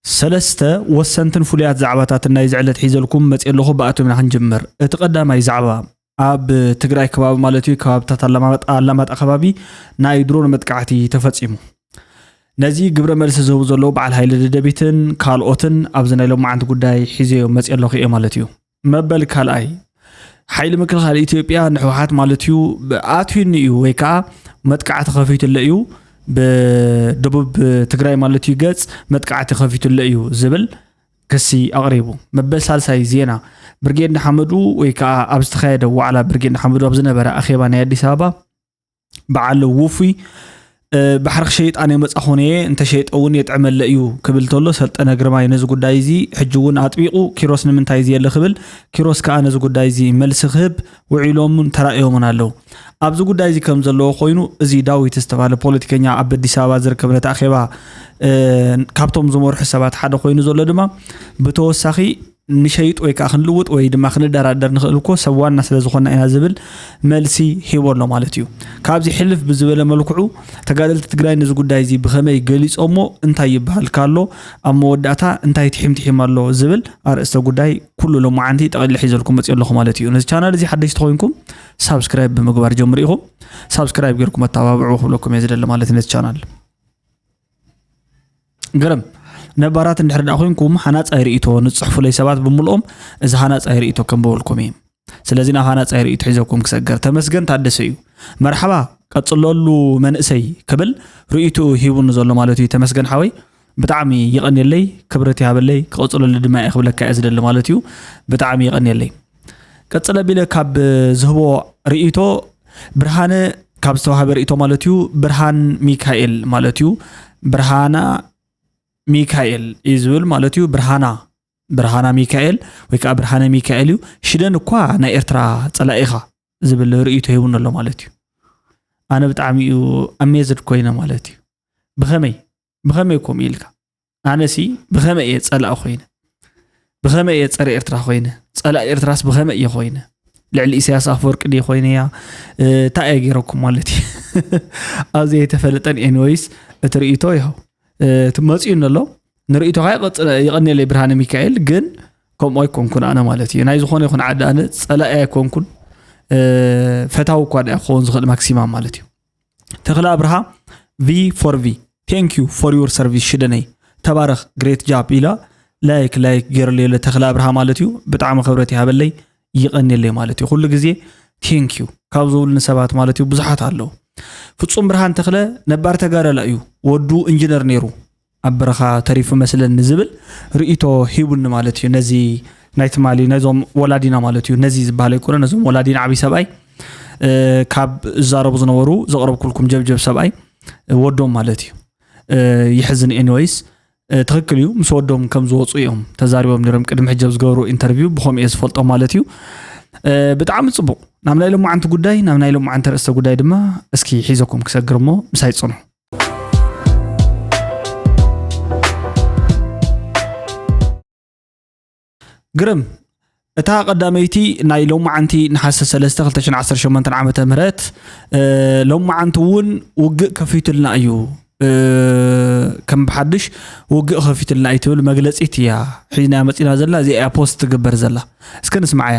ሰለስተ ወሰንትን ፍሉያት ዛዕባታትን ናይዚ ዕለት ሒዘልኩም መፅየ ኣለኹ። ብኣቶምና ክንጅምር። እቲ ቀዳማይ ዛዕባ ኣብ ትግራይ ከባቢ ማለት እዩ ከባብታት ኣላማጣ ከባቢ ናይ ድሮን መጥቃዕቲ ተፈፂሙ ነዚ ግብረ መልሲ ዝህቡ ዘለዉ በዓል ሃይለ ደደቢትን ካልኦትን ኣብዚ ናይ ሎማዓንቲ ጉዳይ ሒዘዮ መፅ ኣለኹ እየ ማለት እዩ መበል ካልኣይ ሓይሊ ምክልኻል ኢትዮጵያ ንሕወሓት ማለት እዩ ኣትዩኒ እዩ ወይ ከዓ መጥቃዕቲ ከፊቱለ እዩ ብደቡብ ትግራይ ማለት እዩ ገፅ መጥቃዕቲ ከፊቱለ እዩ ዝብል ክሲ ኣቕሪቡ መበል ሳልሳይ ዜና ብርጌድ ንሓመዱ ወይ ከዓ ኣብ ዝተካየደ ዋዕላ ብርጌድ ንሓመዱ ኣብ ዝነበረ ኣኼባ ናይ ኣዲስ ኣበባ በዓል ውፉይ ባሕሪ ክሸይጣ ናይ መፃኹን እየ እንተሸይጠ እውን የጥዕመለ እዩ ክብል ተሎ ሰልጠነ ግርማይ ነዚ ጉዳይ እዚ ሕጂ እውን ኣጥቢቑ ኪሮስ ንምንታይ እዚ የለ ክብል ኪሮስ ከዓ ነዚ ጉዳይ እዚ መልሲ ክህብ ውዒሎምን ተራእዮምን ኣለው ኣብዚ ጉዳይ እዚ ከም ዘለዎ ኮይኑ እዚ ዳዊት ዝተባሃለ ፖለቲከኛ ኣብ ኣዲስ ኣበባ ዝርከብ ነቲ ኣኼባ ካብቶም ዝመርሑ ሰባት ሓደ ኮይኑ ዘሎ ድማ ብተወሳኺ ክንሸይጥ ወይ ከዓ ክንልውጥ ወይ ድማ ክንደራደር ንኽእል እኮ ሰብ ዋና ስለ ዝኾና ኢና ዝብል መልሲ ሂቦ ኣሎ ማለት እዩ። ካብዚ ሕልፍ ብዝበለ መልክዑ ተጋደልቲ ትግራይ ነዚ ጉዳይ እዚ ብኸመይ ገሊፆሞ እንታይ ይበሃል ካሎ ኣብ መወዳእታ እንታይ ትሒምትሒም ኣሎ ዝብል ኣርእስተ ጉዳይ ኩሉ ሎማዓንቲ ጠቕሊለ ሒዘልኩም መፅኦ ኣለኹ ማለት እዩ። ነዚ ቻናል እዚ ሓደሽቲ ኮይንኩም ሳብስክራይብ ብምግባር ጀምሩ ኢኹም። ሳብስክራይብ ጌርኩም ኣተባብዑ ክብለኩም እየ ዝደሊ ማለት ነቲ ቻናል። ግርም ነባራት እንድሕር ደኣ ኮንኩም ሃናጻይ ርእይቶ ንጽሕፉለይ ሰባት ብምልኦም እዚ ሃናጻይ ርእይቶ ከንብበልኩም እየ ስለዚ ናብ ሃናጻይ ርእይቶ ሒዘኩም ክሰገር ተመስገን ታደሰ እዩ መርሓባ ቀጽለሉ መንእሰይ ክብል ርእይትኡ ሂቡኒ ዘሎ ማለት እዩ ተመስገን ሓወይ ብጣዕሚ ይቐንየለይ ክብረት ይሃበለይ ክቐጽለሉ ድማ እየ ክብለካ እየ ዝደሊ ማለት እዩ ብጣዕሚ ይቐንየለይ ቀፅል ኣቢለ ካብ ዝህቦ ርእይቶ ብርሃነ ካብ ዝተዋሃበ ርእይቶ ማለት እዩ ብርሃን ሚካኤል ማለት እዩ ብርሃና ሚካኤል እዩ ዝብል ማለት እዩ ብርሃና ብርሃና ሚካኤል ወይ ከዓ ብርሃነ ሚካኤል እዩ ሽደን እኳ ናይ ኤርትራ ፀላኢ ኢኻ ዝብል ርእይቶ ሂቡኒ ኣሎ ማለት እዩ ኣነ ብጣዕሚ እዩ ኣሜዝድ ኮይነ ማለት እዩ ብኸመይ ብኸመይ ከምኡ ኢልካ ኣነሲ ብኸመይ እየ ፀላእ ኮይነ ብኸመይ እየ ፀረ ኤርትራ ኮይነ ፀላእ ኤርትራስ ብኸመይ እየ ኮይነ ልዕሊ ኢሳያስ ኣፈወርቂ ደ ኮይነ እያ እንታይ እየ ገይረኩም ማለት እዩ ኣብ ዘይተፈለጠን ኤንወይስ እቲ ርእቶ ይኸው እቲ መፅኡ ኣሎ ንርእቶካ ይቐኒለይ ብርሃነ ሚካኤል ግን ከምኡ ኣይኮንኩን ኣነ ማለት እዩ ናይ ዝኾነ ይኹን ዓዲ ኣነ ፀላኢ ኣይኮንኩን ፈታዊ እኳ ዳ ክኸውን ዝኽእል ማክሲማም ማለት እዩ ተኽለ ኣብርሃ ቪ ፎር ቪ ቴንክ ዩ ፎር ዩር ሰርቪስ ሽደነይ ተባረኽ ግሬት ጃብ ኢላ ላይክ ላይክ ገይረለዮ ለተኽለ ኣብርሃ ማለት እዩ ብጣዕሚ ክብረት ይሃበለይ ይቐኒለይ ማለት እዩ ኩሉ ግዜ ቴንክ ዩ ካብ ዝብሉኒ ሰባት ማለት እዩ ብዙሓት ኣለዉ ፍፁም ብርሃን ተኽለ ነባር ተጋዳላ እዩ ወዱ ኢንጂነር ነይሩ ኣብ በረኻ ተሪፉ መስለኒ ዝብል ርእይቶ ሂቡኒ ማለት እዩ ነዚ ናይ ትማሊ ነዞም ወላዲና ማለት እዩ ነዚ ዝበሃል ኣይኮነ ነዞም ወላዲና ዓብይ ሰብኣይ ካብ ዝዛረቡ ዝነበሩ ዘቕረብኩልኩም ጀብጀብ ሰብኣይ ወዶም ማለት እዩ ይሕዝን ኤኒወይስ ትክክል እዩ ምስ ወዶም ከም ዝወፁ እዮም ተዛሪቦም ነሮም ቅድሚ ሕጂ ኣብ ዝገበሩ ኢንተርቪው ብከምኡ እየ ዝፈልጦ ማለት እዩ ብጣዕሚ ፅቡቅ ናብ ናይ ሎማዓንቲ ጉዳይ ናብ ናይ ሎማዓንቲ ርእስተ ጉዳይ ድማ እስኪ ሒዘኩም ክሰግር እሞ ምሳይ ፅንሑ ግርም እታ ቀዳመይቲ ናይ ሎማዓንቲ ነሓሰ 3 2018 ዓ ም ሎማዓንቲ እውን ውግእ ከፊቱልና እዩ ከም ብሓድሽ ውግእ ከፊቱልና እዩ ትብል መግለፂት እያ ሒዝናያ መፂና ዘላ እዚኣ እያ ፖስት ትግበር ዘላ እስከ ንስማዓያ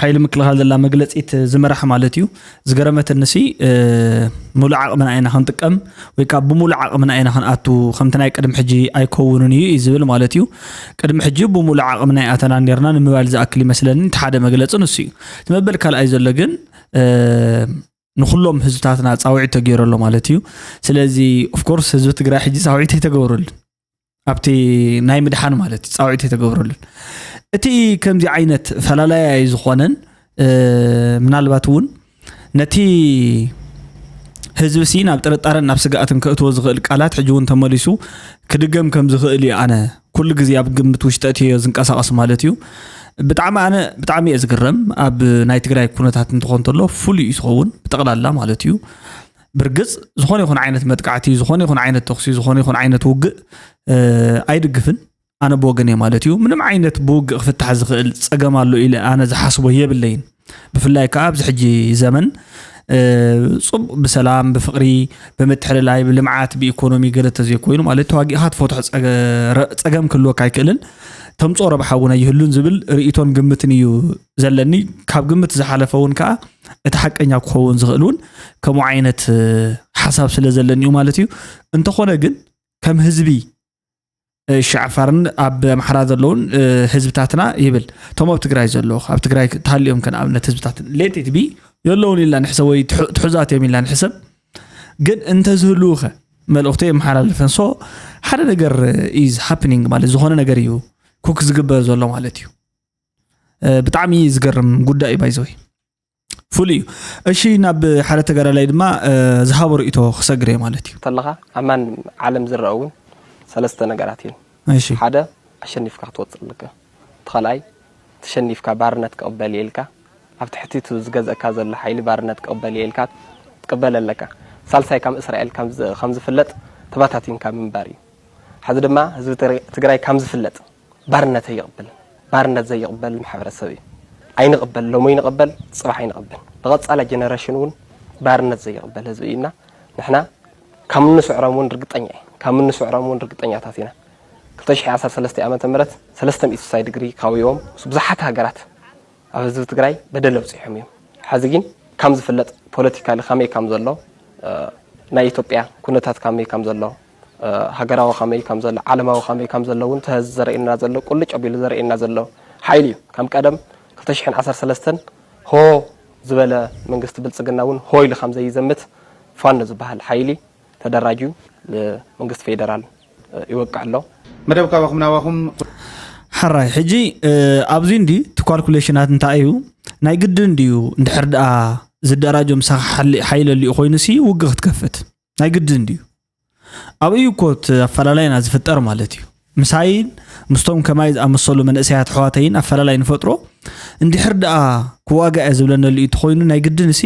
ሓይሊ ምክልኻል ዘላ መግለፂት ዝምራሕ ማለት እዩ ዝገረመትኒ ሲ ሙሉእ ዓቕምና ኢና ክንጥቀም ወይ ካብ ብሙሉእ ዓቕምና ኢና ክንኣቱ ከምቲ ናይ ቅድሚ ሕጂ ኣይከውንን እዩ እዩ ዝብል ማለት እዩ ቅድሚ ሕጂ ብሙሉእ ዓቕምና ይኣተና ነርና ንምባል ዝኣክል ይመስለኒ እቲ ሓደ መግለፂ ንሱ እዩ እቲ መበል ካልኣይ ዘሎ ግን ንኩሎም ህዝብታትና ፃውዒት ተገይረሎ ማለት እዩ ስለዚ ኦፍኮርስ ህዝቢ ትግራይ ሕጂ ፃውዒት ኣይተገብረሉን ኣብቲ ናይ ምድሓን ማለት እዩ ፃውዒት የተገብረሉን እቲ ከምዚ ዓይነት ፈላላይ ዝኾነን ምናልባት እውን ነቲ ህዝቢ ሲ ናብ ጥርጣረን ናብ ስግኣትን ከእትዎ ዝኽእል ቃላት ሕጂ እውን ተመሊሱ ክድገም ከም ዝኽእል እዩ ኣነ ኩሉ ግዜ ኣብ ግምት ውሽጠ እትዮ ዝንቀሳቐስ ማለት እዩ ብጣዕሚ ኣነ ብጣዕሚ እየ ዝግረም ኣብ ናይ ትግራይ ኩነታት እንትኾን ተሎ ፍሉይ እዩ ዝኸውን ብጠቕላላ ማለት እዩ ብርግፅ ዝኾነ ይኹን ዓይነት መጥቃዕቲ ዝኾነ ይኹን ዓይነት ተኽሲ ዝኾነ ይኹን ዓይነት ውግእ ኣይድግፍን ኣነ ብወገን እየ ማለት እዩ ምንም ዓይነት ብውግእ ክፍታሕ ዝኽእል ፀገም ኣሎ ኢለ ኣነ ዝሓስቦ የብለይን ብፍላይ ከዓ ኣብዚ ሕጂ ዘመን ፅቡቅ ብሰላም ብፍቅሪ ብምትሕልላይ ብልምዓት ብኢኮኖሚ ገለ ተዘይኮይኑ ማለት ተዋጊእካ ትፈትሖ ፀገም ክህልወካ ኣይክእልን ተምፅኦ ረብሓ እውን ኣይህሉን ዝብል ርእቶን ግምትን እዩ ዘለኒ ካብ ግምት ዝሓለፈ እውን ከዓ እቲ ሓቀኛ ክኸውን ዝኽእል እውን ከምኡ ዓይነት ሓሳብ ስለ ዘለኒ እዩ ማለት እዩ እንተኾነ ግን ከም ህዝቢ ሻዕፋርን ኣብ ኣምሓራ ዘለውን ህዝብታትና ይብል እቶም ኣብ ትግራይ ዘለዉ ኣብ ትግራይ ተሃልዮም ከን ኣብነት ህዝብታት ሌቲት ቢ የለውን ኢልና ንሕሰብ ወይ ትሑዛት እዮም ኢልና ንሕሰብ ግን እንተዝህልው ከ መልእኽቱ የመሓላልፈን ሶ ሓደ ነገር ኢዝ ሃፕኒንግ ማለት ዝኾነ ነገር እዩ ኩክ ዝግበር ዘሎ ማለት እዩ ብጣዕሚ ዝገርም ጉዳይ እዩ ባይዘወይ ፍሉይ እዩ እሺ ናብ ሓደ ተጋዳላይ ድማ ዝሃቦ ርእቶ ክሰግር እየ ማለት እዩ እንተለካ ኣብ ማን ዓለም ዝረአ እውን ሰለስተ ነገራት እየን እሺ ሓደ ኣሸኒፍካ ክትወፅእ ኣለካ እቲ ካልኣይ ተሸኒፍካ ባርነት ክቕበል እየ ኢልካ ኣብ ትሕቲ እቲ ዝገዝእካ ዘሎ ሓይሊ ባርነት ክቕበል እየ ኢልካ ትቅበል ኣለካ ሳልሳይ ከም እስራኤል ከም ዝፍለጥ ተባታቲንካ ምንባር እዩ ሕዚ ድማ ህዝቢ ትግራይ ከም ዝፍለጥ ባርነት ኣይቕበልን። ባርነት ዘይቕበል ማሕበረሰብ እዩ። ኣይንቕበል፣ ሎሚ ይንቐበል፣ ፅባሕ ኣይንቐበል። ንቐፃላይ ጀነሬሽን እውን ባርነት ዘይቕበል ህዝቢ እዩ እና ንሕና ካብ እንስዕሮም እውን ርግጠኛ እየ ካብ እንስዕሮም እውን ርግጠኛታት ኢና። 2013 ዓመተ ምህረት ሰለስተ ሚእቲ ስሳይ ድግሪ ካውዮም ምስ ብዙሓት ሃገራት ኣብ ህዝቢ ትግራይ በደል ኣብፂሖም እዮም። ሕዚ ግን ከም ዝፍለጥ ፖለቲካሊ ከመይ ከም ዘሎ ናይ ኢትዮጵያ ኩነታት ከመይ ከም ዘሎ ሃገራዊ ከመይ ከም ዘሎ ዓለማዊ ከመይ ከም ዘሎ እውን እቲ ሐዚ ዘርእየና ዘሎ ቁልጭ ኣቢሉ ዘርእየና ዘሎ ሓይሊ እዩ። ከም ቀደም ክልተ ሽሕን ዓሰርተ ሰለስተን ሆ ዝበለ መንግስቲ ብልፅግና እውን ሆ ኢሉ ከም ዘይዘምት ፋኖ ዝበሃል ሓይሊ ተደራጅዩ ንመንግስቲ ፌደራል ይወቅዕ ኣሎ። መደብ ካባኹም ናባኹም። ሕራይ ሕጂ ኣብዚ እንዲ እቲ ኳልኩሌሽናት እንታይ እዩ ናይ ግድን ድዩ እንድሕር ድኣ ዝደራጆ ምሳኻ ሓይሊ ኣሊኡ ኮይኑ ሲ ውግ ክትከፍት ናይ ግድን ድዩ? ኣብኡ እዩ እኮ እቲ ኣፈላላይና ዝፍጠር ማለት እዩ። ምሳይን ምስቶም ከማይ ዝኣመሰሉ መንእሰያት ኣሕዋተይን ኣፈላላይ ንፈጥሮ እንድሕር ደኣ ክዋጋእ እየ ዝብለነሉ እዩ ተኮይኑ ናይ ግድን እሲ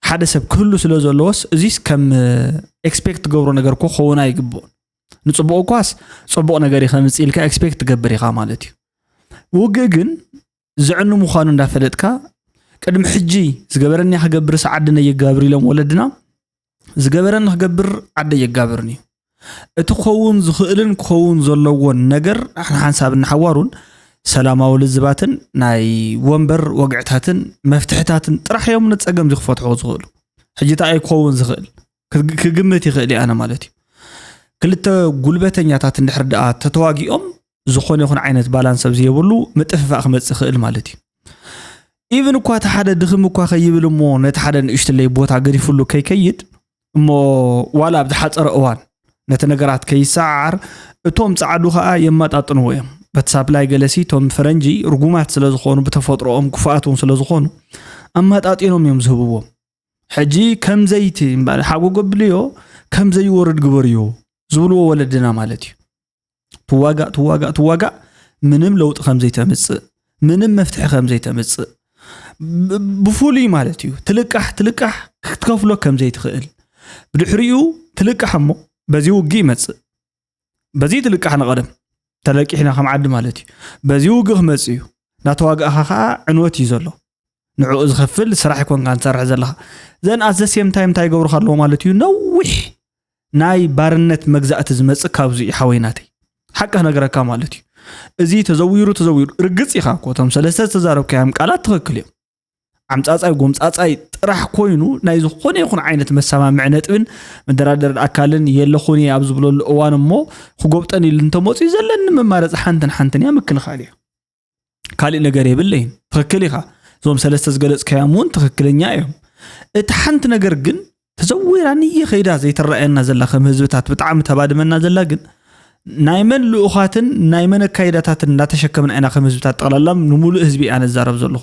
ሓደ ሰብ ክህሉ ስለ ዘለዎስ እዚስ ከም ኤክስፔክት ትገብሮ ነገር ኮ ከውን ኣይግብኦን ንፅቡቅ እኳስ ፅቡቅ ነገር ከምፅ ኢልካ ኤክስፔክት ትገብር ኢካ ማለት እዩ ውግእ ግን ዘዕኑ ምዃኑ እንዳፈለጥካ ቅድሚ ሕጂ ዝገበረኒ ክገብርስ ዓድነ የጋብር ኢሎም ወለድና ዝገበረኒ ክገብር ዓደ የጋብርን እዩ እቲ ክኸውን ዝኽእልን ክኸውን ዘለዎን ነገር ሓንሳብን ሓዋሩን ሰላማዊ ልዝባትን ናይ ወንበር ወግዕታትን መፍትሕታትን ጥራሕ እዮም ንፀገም እዚ ክፈትሑ ዝኽእሉ ሕጂ እንታይ እዩ ክኸውን ዝኽእል ክግምት ይኽእል ኣነ ማለት እዩ ክልተ ጉልበተኛታት እንድሕር ደኣ ተተዋጊኦም ዝኾነ ይኹን ዓይነት ባላንስ ኣብ ዘየብሉ ምጥፍፋእ ክመፅእ ይኽእል ማለት እዩ ኢቨን እኳ እቲ ሓደ ድኽም እኳ ከይብል እሞ ነቲ ሓደ ንእሽትለይ ቦታ ገዲፍሉ ከይከይድ እሞ ዋላ ኣብ ዝሓፀረ እዋን ነቲ ነገራት ከይሰዓዓር እቶም ፃዕዱ ከዓ የመጣጥንዎ እዮም በቲ ሳፕላይ ገለሲ እቶም ፈረንጂ ርጉማት ስለ ዝኾኑ ብተፈጥሮኦም ክፉኣት እውን ስለ ዝኾኑ ኣመጣጢኖም እዮም ዝህብዎም ሕጂ ከምዘይቲ ሓጎ ገብልዮ ከምዘይወርድ ግበርዮ ዝብልዎ ወለድና ማለት እዩ ትዋጋእ ትዋጋእ ትዋጋእ ምንም ለውጢ ከም ዘይተምጽእ ምንም መፍትሒ ከም ዘይተምጽእ ብፍሉይ ማለት እዩ ትልቃሕ ትልቃሕ ክትከፍሎ ከም ዘይትኽእል ብድሕሪኡ ትልቃሕ እሞ በዚ ውግእ ይመጽእ በዚ ትልቃሕ ንቐደም ተለቂሕና ከም ዓዲ ማለት እዩ በዚ ውግእ ክመጽእ እዩ ናተዋጋእኻ ከዓ ዕንወት እዩ ዘሎ ንዕኡ ዝኸፍል ስራሕ ይኮንካን ትሰርሕ ዘለኻ ዘን ኣት ዘሴም ታይም እንታይ ይገብሩካ ኣለዎ ማለት እዩ ነዊሕ ናይ ባርነት መግዛእቲ ዝመፅእ ካብዚ እዩ ሓወይ ናተይ ሓቂ ነገረካ ማለት እዩ እዚ ተዘዊሩ ተዘዊሩ ርግፅ ኢኻ እኮ እቶም ሰለስተ ዝተዛረብካዮም ቃላት ትኽክል እዮም ዓምፃፃይ ጎምፃፃይ ጥራሕ ኮይኑ ናይ ዝኾነ ይኹን ዓይነት መሰማምዒ ነጥብን መደራደሪ ኣካልን የለኹን እየ ኣብ ዝብለሉ እዋን እሞ ክጎብጠን ኢሉ እንተመፅኡ ዘለኒ መማረፂ ሓንትን ሓንትን እያ ምክልኻል እያ ካልእ ነገር የብለይን ትኽክል ኢኻ እዞም ሰለስተ ዝገለፅካዮም እውን ትኽክለኛ እዮም እቲ ሓንቲ ነገር ግን ተዘዊራ ንየ ከይዳ ዘይትረኣየና ዘላ ከም ህዝብታት ብጣዕሚ ተባድመና ዘላ ግን ናይ መን ልኡኻትን ናይ መን ኣካይዳታትን እንዳተሸከምና ኢና ከም ህዝብታት ጠቕላላ ንምሉእ ህዝቢ እያ ነዛረብ ዘለኹ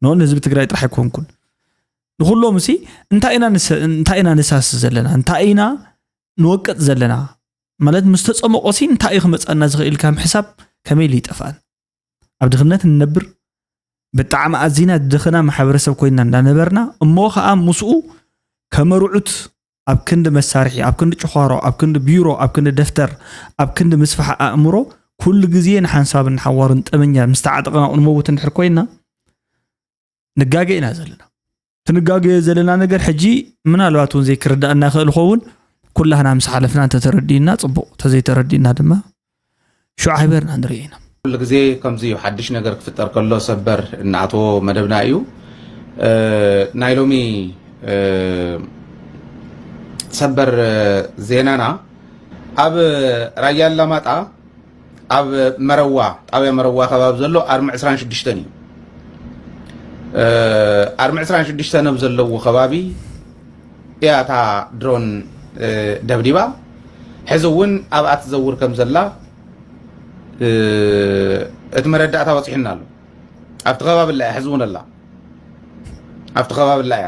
ኖን ህዝቢ ትግራይ ጥራሕ ኣይኮንኩን ንኩሎም ሲ እንታይ ኢና ንሳስ ዘለና እንታይ ኢና ንወቅጥ ዘለና ማለት ምስ ተጸመቆ ሲ እንታይ እዩ ክመጸና ዝኽእል ኢልካ ምሕሳብ ከመይ ኢሉ ይጠፍኣን ኣብ ድኽነት እንነብር ብጣዕሚ ኣዚና ድኽና ማሕበረሰብ ኮይና እንዳነበርና እሞ ከዓ ምስኡ ከመርዑት ኣብ ክንዲ መሳርሒ ኣብ ክንዲ ጭዃሮ ኣብ ክንዲ ቢሮ ኣብ ክንዲ ደፍተር ኣብ ክንዲ ምስፋሕ ኣእምሮ ኩሉ ግዜ ንሓንሳብን ንሓዋሩን ጠመኛ ምስ ተዓጠቕና ንመውት እንድሕር ኮይና ንጋገ ኢና ዘለና ትንጋገ ዘለና ነገር ሕጂ ምናልባት እውን ዘይክርዳእና ይኽእል ኸውን ኩላህና ምስ ሓለፍና እንተተረዲእና ፅቡቕ ተዘይተረዲእና ድማ ሽዑ ዓይበርና ንሪኦ ኢና ኩሉ ግዜ ከምዚ እዩ ሓድሽ ነገር ክፍጠር ከሎ ሰበር እናኣተዎ መደብና እዩ ናይ ሎሚ ሰበር ዜናና ኣብ ራያ ኣላማጣ ኣብ መረዋ ጣብያ መረዋ ከባቢ ዘሎ ኣርሚ ዕስራን ሽዱሽተን እዩ ኣርሚ ዕስራን ሽዱሽተን ኣብ ዘለዎ ከባቢ እያ እታ ድሮን ደብዲባ ሕዚ እውን ኣብኣ ትዘውር ከም ዘላ እቲ መረዳእታ በፂሑና ኣሎ ኣብቲ ከባቢ ላ እያ ሕዚ እውን ኣላ ኣብቲ ከባቢ ላ እያ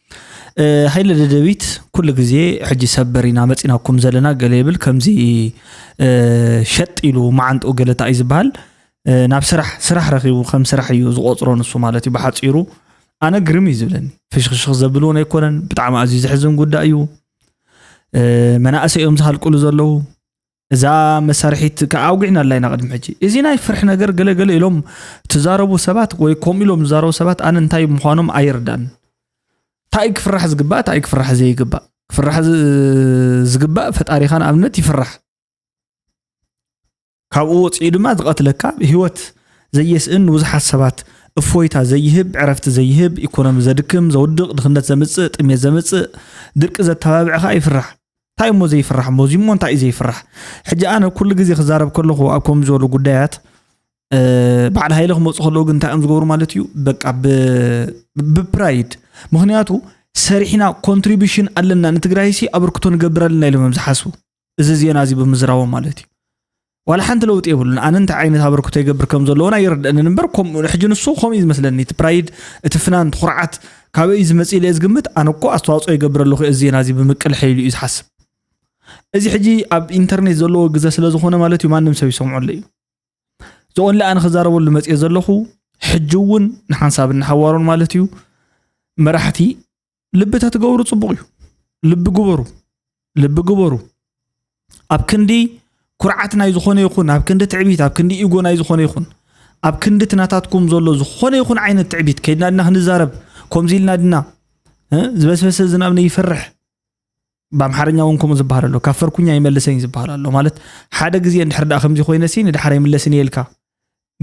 ሃይለ ደደቢት ኩሉ ግዜ ሕጂ ሰበር ኢና መፂናኩም ዘለና ገለ ይብል ከምዚ ሸጥ ኢሉ መዓንጥኡ ገለታ እዩ ዝበሃል ናብ ስራሕ ስራሕ ረኪቡ ከም ስራሕ እዩ ዝቆፅሮ ንሱ ማለት እዩ ብሓፂሩ ኣነ ግርም እዩ ዝብለኒ ፍሽክሽክ ዘብል እውን ኣይኮነን ብጣዕሚ ኣዝዩ ዘሕዝን ጉዳይ እዩ መናእሰይ እዮም ዝሃልቅሉ ዘለዉ እዛ መሳርሒት ከዓ ኣውጊዕና ኣላ ኢና ቅድሚ ሕጂ እዚ ናይ ፍርሒ ነገር ገለገለ ኢሎም ትዛረቡ ሰባት ወይ ከምኡ ኢሎም ዝዛረቡ ሰባት ኣነ እንታይ ምዃኖም ኣይርዳን እንታይ ክፍራሕ ዝግባእ እንታይ ክፍራሕ ዘይግባእ ክፍራሕ ዝግባእ ፈጣሪኻ ንኣብነት ይፍራሕ ካብኡ ወፂኡ ድማ ዝቐትለካ ህይወት ዘየስእን ንብዙሓት ሰባት እፎይታ ዘይህብ ዕረፍቲ ዘይህብ ኢኮኖሚ ዘድክም ዘውድቕ ድኽነት ዘምፅእ ጥሜት ዘምፅእ ድርቂ ዘተባብዕኻ ይፍራሕ እንታይ እሞ ዘይፍራሕ እሞ እዚሞ እንታይ እዩ ዘይፍራሕ ሕጂ ኣነ ኩሉ ግዜ ክዛረብ ከለኹ ኣብ ከምዚ ዝበሉ ጉዳያት በዓል ሃይለ ክመፁ ከለዉ ግን እንታይ እዮም ዝገብሩ ማለት እዩ በቃ ብፕራይድ ምክንያቱ ሰሪሕና ኮንትሪቢሽን ኣለና ንትግራይሲ ኣበርክቶ ንገብር ኣለና ኢሎም እዮም ዝሓስቡ እዚ ዜና እዚ ብምዝራቦም ማለት እዩ ዋላ ሓንቲ ለውጢ የብሉን ኣነ እንታይ ዓይነት ኣበርክቶ ይገብር ከም ዘለዎን ኣይርድአንን እምበር ሕጂ ንሱ ከምኡ እዩ ዝመስለኒ እቲ ፕራይድ እቲ ፍናን እቲ ኩርዓት ካበይ እዩ ዝመፅእ ኢለ ዝግምት ኣነ እኮ ኣስተዋፅኦ ይገብር ኣለኹ እዚ ዜና እዚ ብምቅል ሐይሉ እዩ ዝሓስብ እዚ ሕጂ ኣብ ኢንተርኔት ዘለዎ ግዘ ስለ ዝኾነ ማለት እዩ ማንም ሰብ ይሰምዐሉ እዩ ዝኦንሊ ኣነ ክዛረበሉ መፅየ ዘለኹ ሕጂ እውን ንሓንሳብን ንሓዋሩን ማለት እዩ መራሕቲ ልቢ ተትገብሩ ፅቡቕ እዩ ልቢ ግበሩ ልቢ ግበሩ ኣብ ክንዲ ኩርዓት ናይ ዝኾነ ይኹን ኣብ ክንዲ ትዕቢት ኣብ ክንዲ ኢጎ ናይ ዝኾነ ይኹን ኣብ ክንዲ ትናታትኩም ዘሎ ዝኾነ ይኹን ዓይነት ትዕቢት ከይድና ድና ክንዛረብ ከምዚ ኢልና ድና ዝበስበሰ ዝናብ ነይፈርሕ ብኣምሓርኛ እውን ከምኡ ዝበሃል ኣሎ ካብ ፈርኩኛ ይመልሰኝ ዝበሃል ኣሎ ማለት ሓደ ግዜ እንድሕር ደኣ ከምዚ ኮይነሲ ንድሓር ይምለስን እየ ኢልካ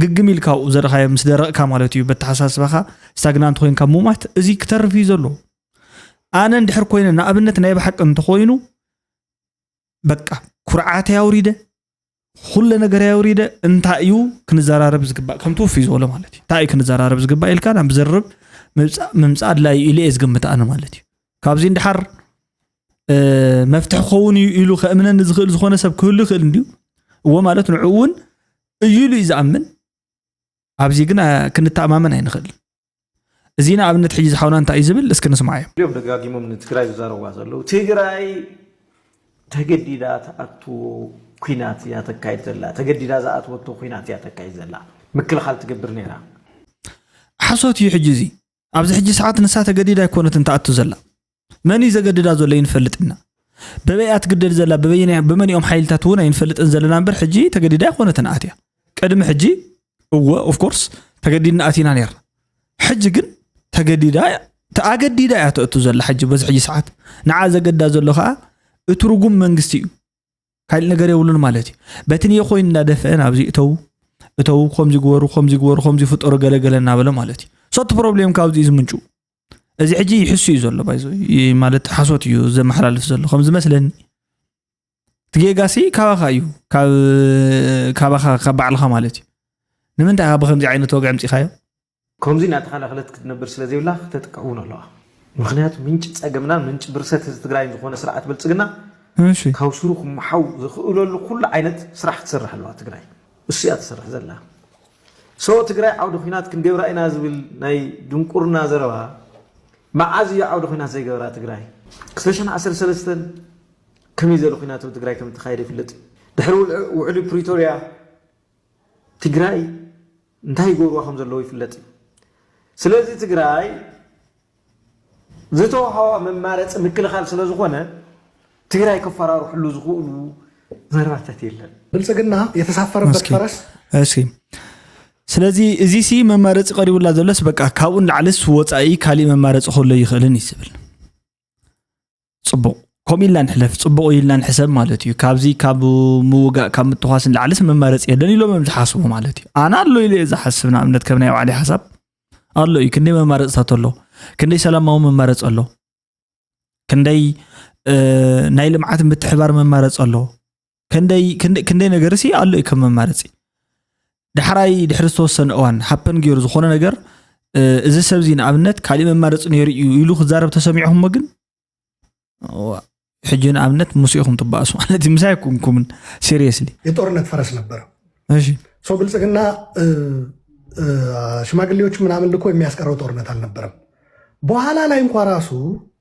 ግግም ኢልካ ኣብኡ ዘርኻዮ ምስ ደረቕካ ማለት እዩ በተሓሳስባኻ ስታግናንት ኮይንካ ሙማት እዚ ክተርፍ እዩ ዘሎ ኣነ እንድሕር ኮይነ ንኣብነት ናይ ብሓቂ እንተኮይኑ በቃ ኩርዓተይ ኣውሪደ ኩለ ነገር ኣውሪደ እንታይ እዩ ክንዘራረብ ዝግባእ ከም ትውፍይ ዝበሎ ማለት እዩ እንታይ እዩ ክንዘራረብ ዝግባእ ኢልካ ናብ ዝርርብ ምምፃእ ኣድላይ ኢሉ እየ ዝግምት ኣነ ማለት እዩ ካብዚ ንድሓር መፍትሒ ክኸውን እዩ ኢሉ ከእምነኒ ዝኽእል ዝኾነ ሰብ ክህሉ ይኽእል እንድዩ እዎ ማለት ንዕኡ እውን እዩ ኢሉ እዩ ዝኣምን ኣብዚ ግን ክንተኣማመን ኣይንኽእልን እዚ ንኣብነት ሕጂ ዝሓውና እንታይ እዩ ዝብል እስኪ ንስማዓዮ እዮም ደጋጊሞም ንትግራይ ዝዛረብዋ ዘለዉ ትግራይ ተገዲዳ ትኣትዎ ኩናት እያ ተካይድ ዘላ ተገዲዳ ዝኣትወቶ ኩናት እያ ተካይድ ዘላ ምክልኻል ትገብር ነይራ ሓሶት እዩ ሕጂ እዚ ኣብዚ ሕጂ ሰዓት ንሳ ተገዲዳ ኣይኮነትን ትኣቱ ዘላ መን እዩ ዘገድዳ ዘሎ ይንፈልጥ ኢና በበይ እያ ትግደድ ዘላ በበይናይ በመንኦም ሓይልታት እውን ኣይንፈልጥን ዘለና እምበር ሕጂ ተገዲዳ ኣይኮነትን ኣትያ ቅድሚ ሕጂ እወ ኦፍኮርስ ተገዲድና ኣቲና ነርና ሕጂ ግን ተገዲዳ ተኣገዲዳ እያ ተእቱ ዘላ ሕጂ በዚ ሕጂ ሰዓት ንዓ ዘገዳ ዘሎ ከዓ እቲ ርጉም መንግስቲ እዩ ካልእ ነገር የብሉን ማለት እዩ በቲ ን ኮይኑ እናደፍአ ናብዚ እተው እተው ከምዚ ግበሩ ከምዚ ግበሩ ከምዚ ፍጠሩ ገለገለ እናበለ ማለት እዩ ሰቲ ፕሮብሌም ካብዚ እዩ ዝምንጩ እዚ ሕጂ ይሕሱ እዩ ዘሎ ባይዞ ማለት ሓሶት እዩ ዘመሓላልፍ ዘሎ ከም ዝመስለኒ እቲ ጌጋሲ ካባኻ እዩ ካባኻ ካብ ባዕልኻ ማለት እዩ ንምንታይ ካብ ከምዚ ዓይነት ወግዒ ምፂኻዮ ከምዚ እናተኸላኸለት ክትነብር ስለ ዘይብላ ክተጥቀ እውን ኣለዋ ምክንያቱ ምንጭ ፀገምና ምንጭ ብርሰት ህዝቢ ትግራይን ዝኾነ ስርዓት ብልፅግና ካብ ስሩ ክመሓው ዝኽእለሉ ኩሉ ዓይነት ስራሕ ክትሰርሕ ኣለዋ ትግራይ እሱ እያ ትሰርሕ ዘላ So ትግራይ ዓውዲ ኹናት ክንገብራ ኢና ዝብል ናይ ድንቁርና ዘረባ መዓዝ እዩ ዓውዲ ኹናት ዘይገበራ ትግራይ ክልተሸሕን ዓሰርተ ሰለስተን ከመይ ዘለ ኹናት ኣብ ትግራይ ከም እተኻየደ ይፍለጥ እዩ ድሕሪ ውዕሊ ፕሪቶርያ ትግራይ እንታይ ይገብርዋ ከም ዘለዎ ይፍለጥ እዩ ስለዚ ትግራይ ዝተውሃባ መማረፂ ምክልኻል ስለዝኾነ ትግራይ ክፈራርሕሉ ዝኽእሉ ዘርባታት የለን። ብልፅግና የተሳፈረበት ፈረስ እሺ ስለዚ እዚ ሲ መማረፂ ቀሪቡላ ዘሎስ በቃ ካብኡን ላዕልስ ወፃኢ ካሊእ መማረፂ ከሎ ይኽእልን እዩ ዝብል ፅቡቕ ከምኡ ኢልና ንሕለፍ ፅቡቕ ኢልና ንሕሰብ ማለት እዩ ካብዚ ካብ ምውጋእ ካብ ምትኳስ ንላዕልስ መማረፂ የለን ኢሎም እዮም ዝሓስቡ ማለት እዩ ኣነ ኣሎ ኢለ እየ ዝሓስብ ንኣብነት ከም ናይ ባዕሊ ሓሳብ ኣሎ እዩ ክንደይ መማረፅታት ኣሎ ክንደይ ሰላማዊ መማረፂ ኣሎ ክንደይ ናይ ልምዓት ምትሕባር መማረፂ ኣሎ ከንደይ ክንደይ- ክንደይ ነገር ሲ ኣሎ እዩ ከም መማረፂ ዳሕራይ ድሕሪ ዝተወሰነ እዋን ሃፐን ገይሩ ዝኾነ ነገር እ፣ እዚ ሰብ እዚ ንኣብነት ካሊእ መማረፂ ነይሩ እዩ ኢሉ ክዛረብ ተሰሚዕኹሞ ግን እዋ፣ ሕጂ ንኣብነት ምስ ኢኹም ትበኣሱ ማለት እዩ ምሳይ ኩንኩምን ሲሪየስሊ የጦርነት ፈረስ ነበረ እሺ ሰው ብልጽግና እ፣ እ፣ ሽማግሌዎች ምናምን ልኮ የሚያስቀረው ጦርነት አልነበረም። በኋላ ላይ እንኳ ራሱ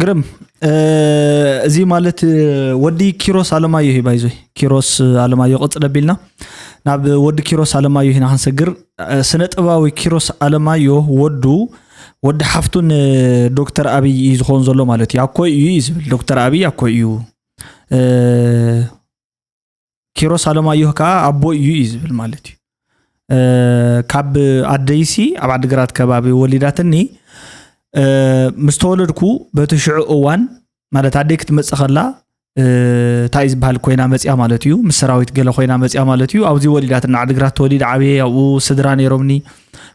ግርም እዚ ማለት ወዲ ኪሮስ ኣለማዮ እዩ ባይዞይ ኪሮስ ኣለማዮ ቅፅል ኣቢልና ናብ ወዲ ኪሮስ ኣለማዮ ኢና ክንሰግር ስነ ጥበባዊ ኪሮስ ኣለማዮ ወዱ ወዲ ሓፍቱን ዶክተር ኣብይ እዩ ዝኸውን ዘሎ ማለት እዩ ኣኮይ እዩ እዩ ዝብል ዶክተር ኣብይ ኣኮይ እዩ ኪሮስ ኣለማዮህ ከዓ ኣቦ እዩ እዩ ዝብል ማለት እዩ ካብ ኣደይሲ ኣብ ዓዲግራት ከባቢ ወሊዳትኒ ምስ ተወለድኩ በቲ ሽዑ እዋን ማለት ኣደይ ክትመፅእ ከላ እንታይ እዩ ዝበሃል ኮይና መፅያ ማለት እዩ ምስ ሰራዊት ገለ ኮይና መፅያ ማለት እዩ ኣብዚ ወሊዳትና ዓዲግራት ተወሊደ ዓብየ ኣብኡ ስድራ ነይሮምኒ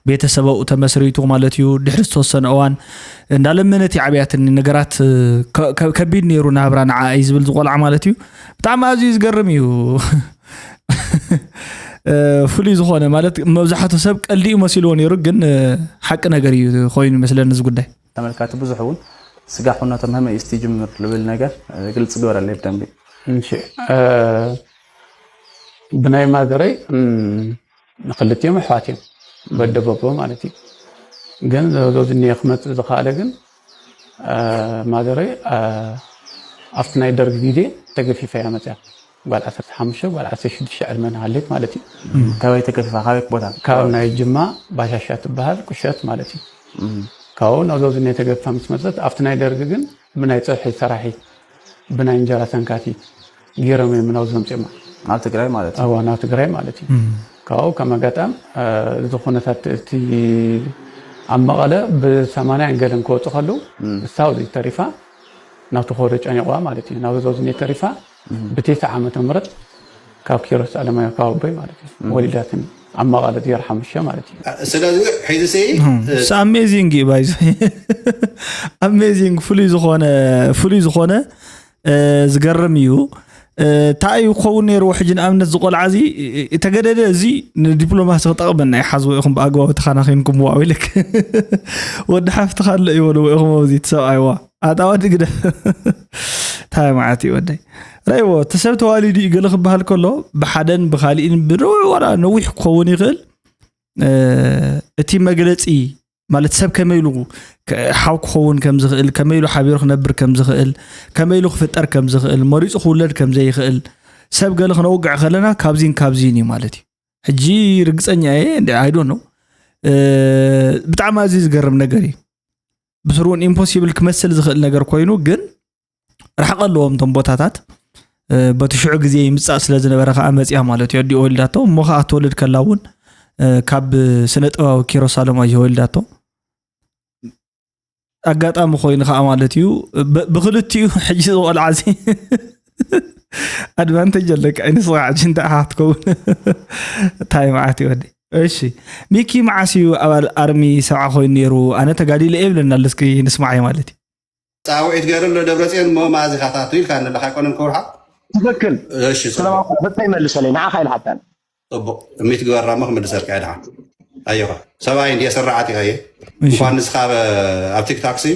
ቤተሰበኡ ተመስሪቱ ማለት እዩ ድሕሪ ዝተወሰነ እዋን እንዳለመነት ይዓብያትኒ ነገራት ከቢድ ነይሩ ናብራ ንዓ እዩ ዝብል ዝቆልዓ ማለት እዩ ብጣዕሚ ኣዝዩ ዝገርም እዩ ፍሉይ ዝኾነ ማለት መብዛሕቱ ሰብ ቀልዲ እዩ መሲልዎ ነይሩ ግን ሓቂ ነገር እዩ ኮይኑ ይመስለኒ እዚ ጉዳይ ተመልካቲ ብዙሕ እውን ስጋ ኩነቶ ምህመ እዩ ስቲ ጅምር ልብል ነገር ግልፂ ግበረለይ ብደንቢ ብናይ ማዘረይ ንክልቲኦም ኣሕዋት እዮም በደበቦ ማለት እዩ ግን ዘሎ ዝኒየ ክመፅእ ዝኸኣለ ግን ማዘረይ ኣብቲ ናይ ደርግ ግዜ ተገፊፈ እያ መፅያ ጓል 15 ጓል 16 ዕድመ ንሃሌት ማለት እዩ ካበይ ተገፊፋ ካበይ ቦታ ካብ ናይ ጅማ ባሻሻ ትበሃል ቁሸት ማለት እዩ ካብኡ ናብ ዞዚ ናይ ተገፊፋ ምስ መፀት ኣብቲ ናይ ደርግ ግን ብናይ ፀብሒ ሰራሒት ብናይ እንጀራ ሰንካቲት ጌሮም እዮም ናብዚ ዘምፅኦማ ናብ ትግራይ ማለት እዩ ናብ ትግራይ ማለት እዩ ካብኡ ከም ኣጋጣም እዚ ኩነታት እቲ ኣብ መቐለ ብሰማንያ ገለን ክወፁ ከሉ ሳውዚ ተሪፋ ናብቲ ኮዶ ጨኒቕዋ ማለት እዩ ናብ ዞዝኒ ተሪፋ ብቴሳ ዓመተ ምህረት ካብ ኪሮስ ኣለማዮ ካብ ኣቦይ ማለት እዩ ወሊዳትን ኣብ መቐለ ዜሮ ሓሙሽተ ማለት እዩ ስለዚ ሒዚ ኣሜዚንግ እዩ ባይዞ ኣሜዚንግ ፍሉይ ዝኾነ ፍሉይ ዝኾነ ዝገርም እዩ እንታይ እዩ ክኸውን ነይርዎ ሕጂ ንኣብነት እዚ ቆልዓ እዚ ተገደደ እዚ ንዲፕሎማሲ ክጠቕመና ይሓዝዎ ኢኹም ብኣግባቡ ተኸናኺንኩምዋ ኢልክ ወዲ ሓፍትኻ ኣሎ እዩ በልዎ ኢኹም ኣብዚ ትሰብኣይዋ ኣታዋ ድግደ እንታይ መዓት እዩ ወደይ ረይዎ እቲ ሰብ ተዋሊዱ እዩ ገለ ክበሃል ከሎ ብሓደን ብካሊእን ብንውዕ ወላ ነዊሕ ክኸውን ይኽእል እቲ መግለፂ ማለት ሰብ ከመይ ኢሉ ሓው ክኸውን ከም ዝኽእል ከመይ ኢሉ ሓቢሩ ክነብር ከም ዝኽእል ከመይ ኢሉ ክፍጠር ከም ዝኽእል መሪፁ ክውለድ ከም ዘይኽእል ሰብ ገለ ክነውግዕ ከለና ካብዚን ካብዚን እዩ ማለት እዩ ሕጂ ርግፀኛ እየ ኣይዶ ነው ብጣዕሚ ኣዝዩ ዝገርም ነገር እዩ ብስሩን ኢምፖሲብል ክመስል ዝኽእል ነገር ኮይኑ ግን ርሕቀ ኣለዎም እቶም ቦታታት በቲ ሽዑ ግዜ ይምፃእ ስለ ዝነበረ ከዓ መፅያ ማለት እዩ ኣዲኡ ወሊዳቶ እሞ ከዓ ትወልድ ከላ እውን ካብ ስነ ጥበባዊ ኪሮስ ኣለማዮ ወሊዳቶ ኣጋጣሚ ኮይኑ ከዓ ማለት እዩ ብክልቲኡ ሕጂ ዝቆልዓ እዚ ኣድቫንቴጅ ኣለካ ይንስካ ሕጂ እንታይ ሓ ትከውን እንታይ መዓት ይወዲ እሺ ሚኪ መዓስ እዩ ኣባል ኣርሚ ሰብዓ ኮይኑ ነይሩ ኣነ ተጋዲለ የብለና ኣለስኪ ንስማዓይ ማለት እዩ ፃውዒት ገይሩ ኣሎ ደብረፅዮን እሞ መኣዝ ኢኻ ትኣቱ ኢልካኒ ኣለካ ኣይኮነን ክብርሃ ትክክል እሺ ሰላም ፅቡቅ ሕቶይ መልሰለይ ንዓኻ ኢለ ሓታ ፅቡቅ ሚት ግበራ እሞ ክምልሰልካ እየ ድሓን ኣየኻ ሰብኣይ እንድየ ስራዓት ኢኻ እየ እሺ እንኳን ንስኻ ኣብ ኣብ ቲክታክ ሲ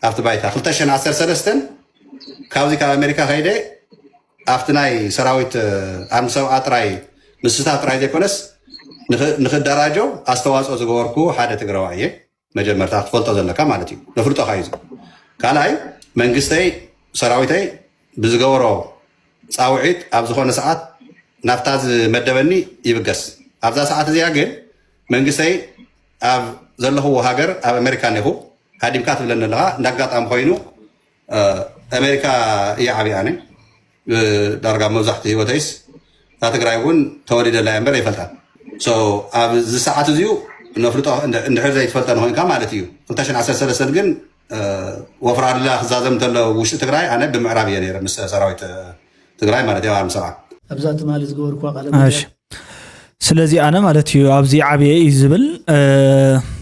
ኣብቲ ባይታ 213 ካብዚ ካብ ኣሜሪካ ከይደ ኣብቲ ናይ ሰራዊት እ፣ ኣንድ ሰብኣ ጥራይ ምስታ ጥራይ ዘይኮነስ ንክ- ንክደራጆ ኣስተዋፅኦ ዝገበርኩ ሓደ ትግራዋይ እየ መጀመርታ ክትፈልጦ ዘለካ ማለት እዩ ነፍልጦ ካዩ ካልኣይ መንግስተይ ሰራዊተይ ብዝገበሮ ፃውዒት ኣብ ዝኾነ ሰዓት ናብታ ዝመደበኒ ይብገስ ኣብዛ ሰዓት እዚኣ ግን መንግስተይ ኣብ ዘለኽዎ ሃገር ኣብ ኣሜሪካ ኔኹ ሃዲምካ ትብለኒ ኣለካ እንዳኣጋጣሚ ኮይኑ ኣሜሪካ እየ ዓብየ ኣነ ዳርጋ መብዛሕቲ ህይወተይስ እታ ትግራይ እውን ተወሊደላ እየ እምበር ኣይፈልጣን ኣብዚ ሰዓት እዚኡ ነፍልጦ እንድሕር ዘይትፈልጠ ንኮንካ ማለት እዩ 213 ግን ወፍራ ድላ ክዛዘም እንተሎ ውሽጢ ትግራይ ኣነ ብምዕራብ እየ ነረ ምስ ሰራዊት ትግራይ ማለት እያ ኣብ ሰብዓ ኣብዛ ትማሊ ዝገበርኩዋ ቃለ እሺ ስለዚ ኣነ ማለት እዩ ኣብዚ ዓብየ እዩ ዝብል እ፣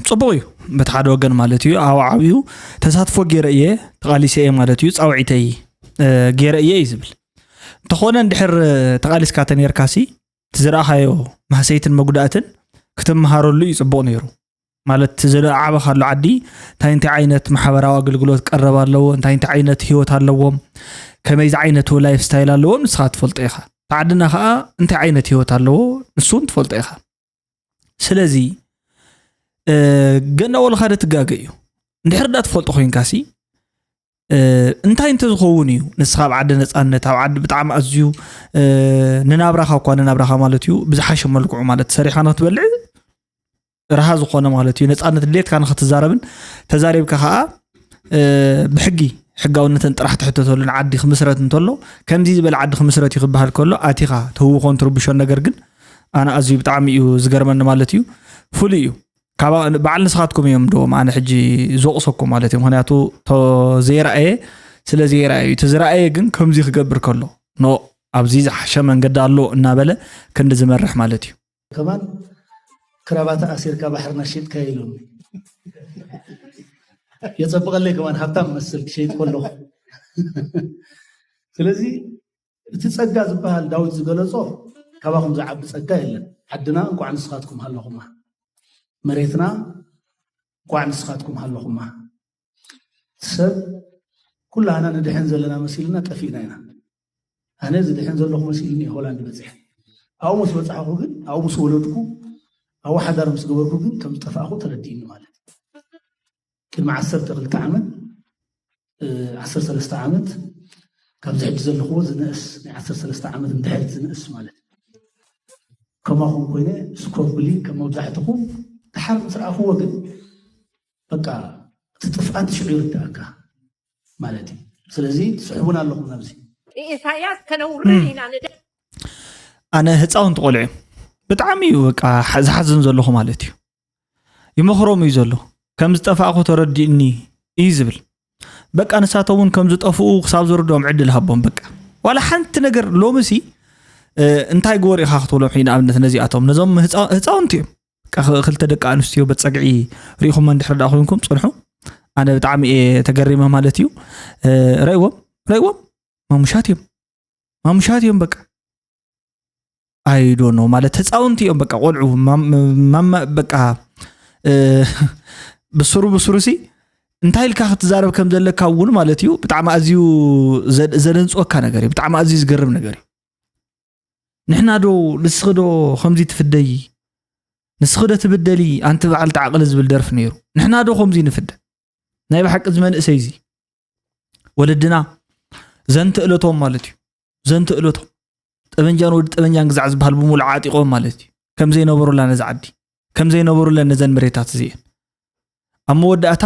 ፅቡቅ እዩ በቲ ሓደ ወገን ማለት እዩ ኣብ ዓብዩ ተሳትፎ ገይረ እየ ተቃሊሰ እየ ማለት እዩ ፃውዒተይ እ፣ ገይረ እየ እዩ ዝብል እንተኾነ እንድሕር እ፣ ተቃሊስካ ተነርካሲ እቲ ዝረኣኻዮ ማህሰይትን መጉዳእትን ክትመሃረሉ እዩ ፅቡቅ ነይሩ ማለት ዘለዓበኻሉ ዓዲ እንታይ እንታይ ዓይነት ማሕበራዊ ኣገልግሎት ቀረብ ኣለዎ እንታይ እንታይ ዓይነት ሂወት ኣለዎም ከመይ ዝዓይነቱ ላይፍ ስታይል ኣለዎም ንስኻ ትፈልጦ ኢኻ ተዓድና ከዓ እንታይ ዓይነት ሂወት ኣለዎ ንሱን ትፈልጦ ኢኻ ስለዚ ገና ወልኻደ ትጋገ እዩ እንድሕር ዳ ትፈልጦ ኮንካሲ እንታይ እንተዝኸውን እዩ ንስኻ ኣብ ዓዲ ነፃነት ኣብ ዓዲ ብጣዕሚ ኣዝዩ ንናብራኻ እኳ ንናብራኻ ማለት እዩ ብዝሓሸ መልክዑ ማለት ሰሪኻ ንክትበልዕ ረሃ ዝኾነ ማለት እዩ ነፃነት ድሌትካ ንክትዛረብን ተዛሪብካ ከዓ ብሕጊ ሕጋውነተን ጥራሕ ትሕተተሉን ዓዲ ክምስረት እንተሎ ከምዚ ዝበለ ዓዲ ክምስረት እዩ ክበሃል ከሎ ኣቲኻ ትህውኾን ትርብሾን ነገር ግን ኣነ ኣዝዩ ብጣዕሚ እዩ ዝገርመኒ ማለት እዩ ፍሉይ እዩ በዓል ንስኻትኩም እዮም ዶም ኣነ ሕጂ ዝወቕሰኩም ማለት እዩ ምክንያቱ ዘይረኣየ ስለ ዘይረኣየ እዩ እቲ ዝረኣየ ግን ከምዚ ክገብር ከሎ ኖ ኣብዚ ዝሓሸ መንገዲ ኣሎ እናበለ ክንዲ ዝመርሕ ማለት እዩ ከማን ክራባታ ኣሲርካ ባሕሪ ናሽጥካ ኢሉ የፀብቐለይ ከማን ሃብታም መስል ክሸይጥ ከለኹ ስለዚ እቲ ጸጋ ዝበሃል ዳዊት ዝገለጾ ካባኹም ዝዓቢ ጸጋ የለን። ዓድና እንቋዕ ንስኻትኩም ሃለኹማ፣ መሬትና እንቋዕ ንስኻትኩም ሃለኹማ። ሰብ ኩላህና ንድሕን ዘለና መሲልና ጠፊእና ኢና። ኣነ ዝድሕን ዘለኹ መሲልኒ ሆላንድ በፂሐ ኣብኡ ምስ በፃሕኹ ግን ኣብኡ ምስ ወለድኩ ኣብኡ ሓዳር ምስ ገበርኩ ግን ከም ዝጠፋእኹ ተረዲእኒ ማለት ቅድሚ ዓሰርተ ክልተ ዓመት ዓሰርተ ሰለስተ ዓመት ካብዚ ሕጂ ዘለኹዎ ዝንእስ ናይ ዓሰርተ ሰለስተ ዓመት እንድሕር ዝንእስ ማለት ከማኹም ኮይነ ስኮፍ ብሊ ከም መብዛሕትኹም ድሓር ምስ ረኣኽዎ ግን በቃ እቲ ጥፍኣት ሽዑ ይርዳእካ ማለት እዩ ስለዚ ትስሕቡን ኣለኹም ናብዚ ኢሳያስ ከነውርድ ኢና ኣነ ህፃውንቲ ቆልዑ ብጣዕሚ እዩ በቃ ዝሓዝን ዘለኹ ማለት እዩ ይመኽሮም እዩ ዘሎ ከም ዝጠፋእኹ ተረዲኡኒ እዩ ዝብል በቃ ንሳቶ እውን ከም ዝጠፍኡ ክሳብ ዝርድኦም ዕድል ሃቦም በቃ ዋላ ሓንቲ ነገር ሎሚ ሲ እንታይ ግበሩ ኢኻ ክትብሎም ሕይ ንኣብነት ነዚኣቶም ነዞም ህፃውንቲ እዮም ክልተ ደቂ ኣንስትዮ በፀግዒ ርኢኹሞ እንድሕር ዳ ኮንኩም ፅንሑ ኣነ ብጣዕሚ እየ ተገሪመ ማለት እዩ ረእዎም ረእዎም ማሙሻት እዮም ማሙሻት እዮም በቃ ኣይዶ ነው ማለት ህፃውንቲ እዮም በቃ ቆልዑ በቃ ብስሩ ብስሩ ሲ እንታይ ኢልካ ክትዛረብ ከም ዘለካ እውን ማለት እዩ ብጣዕሚ ኣዝዩ ዘደንፅወካ ነገር እዩ ብጣዕሚ ኣዝዩ ዝገርም ነገር እዩ ንሕና ዶ ንስኺ ዶ ከምዚ ትፍደይ ንስኺ ዶ ትብደሊ ኣንቲ በዓል ተዓቕሊ ዝብል ደርፊ ነይሩ ንሕና ዶ ከምዚ ንፍደ ናይ ብሓቂ ዝመንእሰይ እዚ ወለድና ዘንትእለቶም ማለት እዩ ዘንተእለቶም ጠበንጃን ወዲ ጠበንጃን ግዛዕ ዝበሃል ብምሉእ ዓጢቖም ማለት እዩ ከም ዘይነበሩላ ነዚ ዓዲ ከም ዘይነበሩለን ነዘን መሬታት እዚአን ኣብ መወዳእታ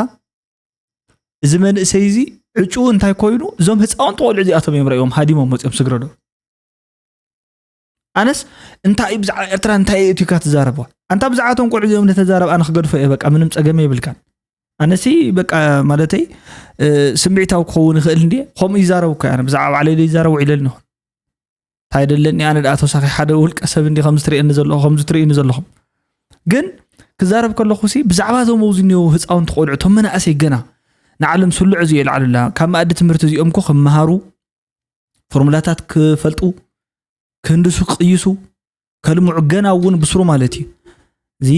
እዚ መንእሰይ እዚ ዕጩ እንታይ ኮይኑ እዞም ህፃውንቲ ቆልዑ እዚኣቶም እዮም ረእዮም ሃዲሞም ወፂኦም ስግረዶ ኣነስ እንታይ እዩ ብዛዕባ ኤርትራ እንታይ እዩ እትካ ትዛረበዋ ኣንታ ብዛዕባቶም ቆልዑ እዚኦም ንተዛረብ ኣነ ክገድፎ እየ በቃ ምንም ፀገም የብልካን ኣነሲ በቃ ማለተይ ስምዒታዊ ክኸውን ይኽእል እንዲ ከምኡ ይዛረብ እኮ ኣነ ብዛዕባ ባዕለይ ዘይዛረብ ውዒለ ኣለኹ እንታይ ደለኒ ኣነ ደኣ ተወሳኺ ሓደ ውልቀ ሰብ እንዲ ከምዚ ትርእየኒ ዘለኹ ከምዚ ትርእዩኒ ዘለኹም ግን ክዛረብ ከለኹ ሲ ብዛዕባ እዞም ኣብዚ እኒው ህፃውንቲ ቆልዑ እቶም መናእሰይ ገና ንዓለም ስሉዕ እዚ የልዓሉላ ካብ መኣዲ ትምህርቲ እዚኦም ኮ ክመሃሩ ፎርሙላታት ክፈልጡ ክህንድሱ ክቅይሱ ከልምዑ ገና እውን ብስሩ ማለት እዩ እዚ